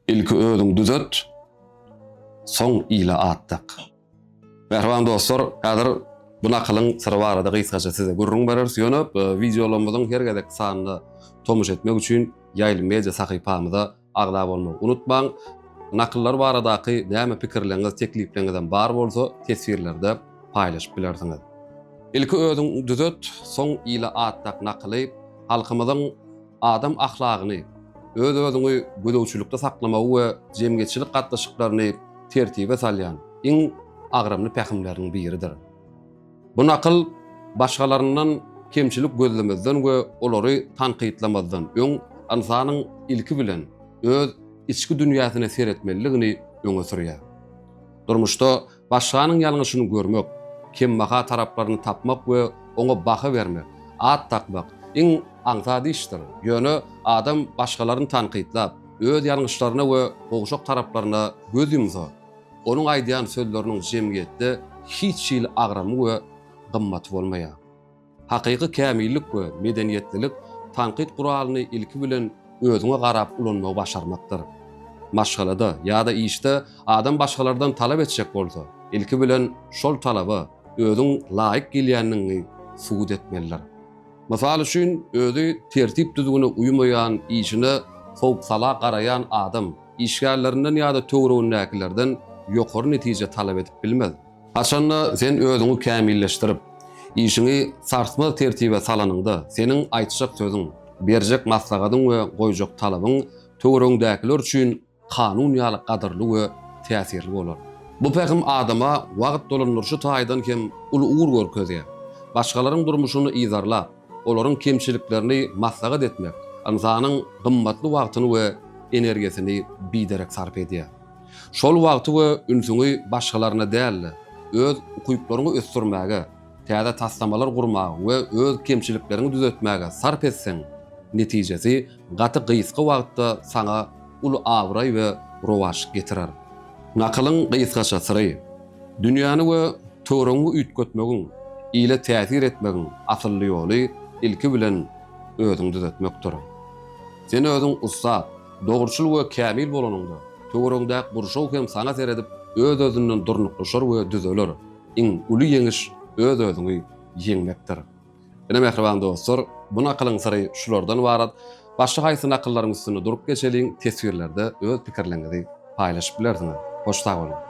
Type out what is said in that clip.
Ilki özüň düzet, soň ile at dak. Mähriban dostlar, häzir bu nakylyň syry barada gysgaça size gürrüň bereris, ýöne wideolarymyzyň her gezekki sanyna tomuş etmek üçin Ýaýly media sahypamyza agza bolmagy unutmaň. Nakyllar baradaky näme pikirleriňiz, teklipleňizem bar bolsa, teswirlerde paýlaşyp bilersiňiz. Ilki özüň düzet, soň ile at dak nakyly halkymyzyň Adam ahlagyny, öz-özüňi gözegçilikde saklamagy we jemgyýetçilik gatnaşyklaryny tertibe salýan iň agramly pähimleriň biridir. Bu nakyl başgalaryndan kemçilik gözlemezden we olary tankytlamazdan öň ynsanyň ilki bilen öz içki dünýäsine seretmelidigini öňe sürýär. Durmuşda Başganyň ýalňyşyny görmek, kembaha taraplaryny tapmak we oňa baha bermek, at dakmak, iň aňsat işdir. Ýöne adam başgalaryny tankytlap, öz ýalňyşlaryna we gowşak taraplaryna göz ýumsa, onuň aýdýan sözleriniň jemgyýetde hiç hili agramy we gymmaty bolmaýar. Hakyky kämillik we medeniýetlilik tankyt guralyny ilki bilen özüňe garap ulanmagy başarmakdyr. Maşgalada ýa-da işde adam başgalardan talap etjek bolsa, ilki bilen şol talaba özüň laýyk gelýändigiňi subut etmelidir. Mysal üçin, özi tertip-düzgüne uýmaýan, işine sowuk-sala garaýan adam işgärlerinden ýa-da töweregindäkilerden ýokary netije talap edip bilmez. Haçan-da sen özüňi kämilleşdirip, işiňi sarsmaz tertibe salanyňda, seniň aýtjak sözüň, berjek maslahatyň we goýjak talabyň töweregiňdäkiler üçin kanun ýaly gadyrly we täsirli bolar. Bu pähim adama wagt dolandyryşy taýdan hem uly ugur görkezýär. Başgalaryň durmuşyny yzarlap, olaryň kemçiliklerini maslahat etmek ynsanyň gymmatly wagtyny we energiýasyny biderek sarp edýär. Şol wagty we ünsüňi başgalaryna däl-de, öz ukyplaryňy ösdürmäge, täze taslamalar gurmaga we öz kemçilikleriňi düzetmäge sarp etseň, netijesi gaty gysga wagtda saňa uly abraý we rowaç getirer. Nakylyň gysgaça syry, Dünýäni we töweregiňi üýtgetmegiň, ile täsir etmegiň asylly ýoly ilki bilen özüňi düzetmekdir. Sen özüň ussat, dogruçyl we kämil bolanyňda, töweregiňdäki gurşaw hem saňa seredip, öz-özünden durnuklaşar we düzeler. Iň uly ýeňiş öz-özüňi ýeňmekdir. Ine, mähriban dostlar, bu nakylyň syry şulardan ybarat. Başga haýsy nakyllaryň üstünde durup geçeliň, teswirlerde öz pikirleriňizi paýlaşyp bilersiňiz. Hoş sag boluň!